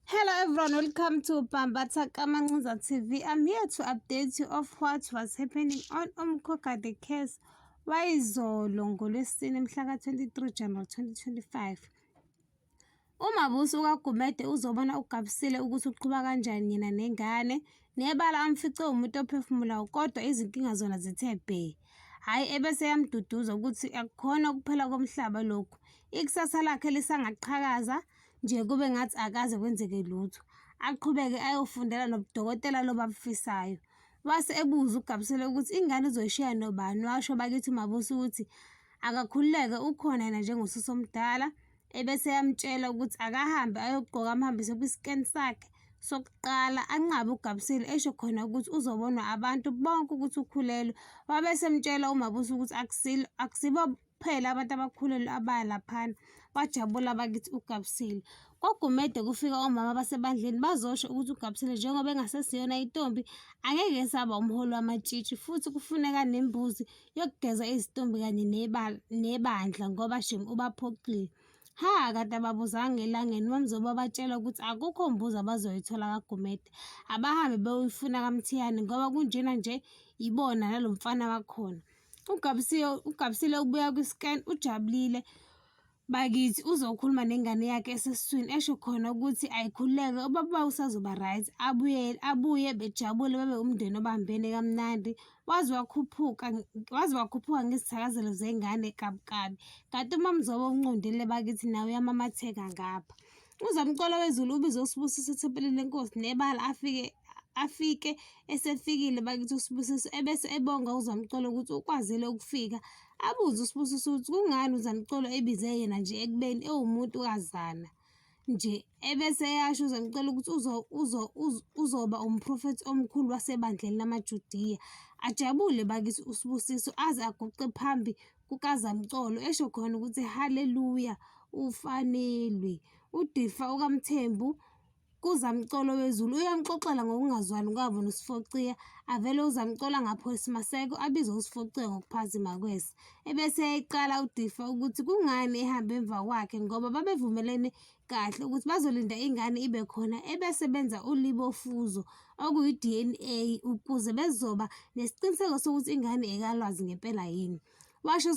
Hello everyone, welcome to Bambatha Kamancuza TV. I'm here to update you of what was happening on Umkoka the case wayizolo ngolwesine mhla ka-23 January 2025. Umabusi ukaGumede uzobona ugabisile ukuthi uqhuba kanjani yena nengane nebala amfice umuntu ophefumulayo kodwa izinkinga zona zithe bhe hhayi ebese yamduduza ukuthi akukhona ukuphela komhlaba lokhu ikusasa lakhe lisangaqhakaza nje kube ngathi akaze kwenzeke lutho. Aqhubeke ayofundela nobudokotela lobu abufisayo. Wase ebuza uGabsile ukuthi ingane uzoyishiya nobani, washo bakithi uMabusi ukuthi akakhululeke ukhona yena njengosisi omdala, ebese eyamtshela ukuthi akahambe ayogqoka amhambise kwisikeni sakhe sokuqala anqabe uGabsile esho khona ukuthi uzobonwa abantu bonke ukuthi ukhulelwe. Wabe esemtshela uMabusi ukuthi akusilo akusibo kuphela abantu abakhulelwe abaya laphana bajabula bakithi ugabusile kogumede kufika omama basebandleni bazosho ukuthi ugabusile njengoba engasesiyona intombi angeke esaba umholi wamatshitshi futhi kufuneka nembuzi yokugeza izitombi kanye nebandla ngoba shem ubaphoxile ha kade ababuzanga elangeni mamzoba batshela ukuthi akukho mbuzo abazoyithola kagumede abahambe beyoyifuna kamthiyane ngoba kunjena nje ibona nalo mfana wakhona Ugabisiwe ugabisile ubuya kwi-scan ujabulile bakithi uzokhuluma nengane yakhe esesiswini esho khona ukuthi ayikhuleke ubaba usazoba right abuye abuye bejabule babe umndeni obambene kamnandi waze wakhuphuka waze wakhuphuka ngezithakazelo zengane kabukabi kanti umamzobo unqundile bakithi nawe uyamamatheka ngapha Uzamcolo wezulu ubize uSibusiso ethempelini lenkosi nebala afike afike esefikile bakithi uSibusiso ebese ebonga uZamcolo ukuthi ukwazile ukufika abuze uSibusiso ukuthi kungani uZamcolo ebize yena nje ekubeni ewumuntu kazana nje ebese eyasho uZamcolo ukuthi uzo uzo uzoba umprofethi omkhulu wasebandleni lamaJudiya ajabule bakithi uSibusiso aze aguqe phambi kukazamcolo esho khona ukuthi haleluya ufanelwe udifa ukamthembu kuzamcolo wezulu uyamxoxela ngokungazwani kwabo nosifociya avele uzamcola ngapho esimaseko abize usifociya ngokuphazima kwesa ebese eqala udifa ukuthi kungani ehamba emva kwakhe ngoba babevumelene kahle ukuthi bazolinda ingane ibe khona ebese benza ulibofuzo okuyi-DNA ukuze bezoba nesiqiniseko sokuthi ingane ekalwazi ngempela yini washo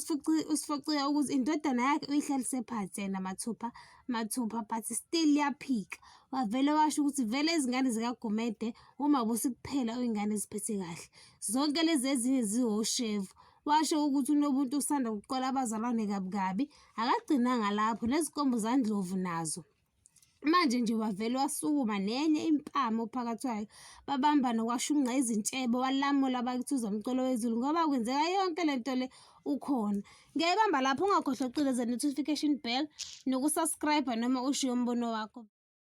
usifocile ukuthi indodana yakhe uyihlalise phansi yena mathupha mathupha but still yaphika wavele washo ukuthi vele izingane zikagumede uma busikuphela uyingane ziphethe kahle zonke lezi ezinye ziwoshevu washo ukuthi unobuntu usanda kuqola abazalwane kabi kabi Akagcinanga lapho nezinkomo zandlovu nazo manje nje wavele wasukuma nenye impama ophakathi kwayo babambana kwashunqa izintshebe walamula bakithi uzamcolo wezulu ngoba kwenzeka yonke le nto le ukhona ngiyayibamba lapho ungakhohlwa ukucindezela notification bell nokusubscribe noma ushiye umbono wakho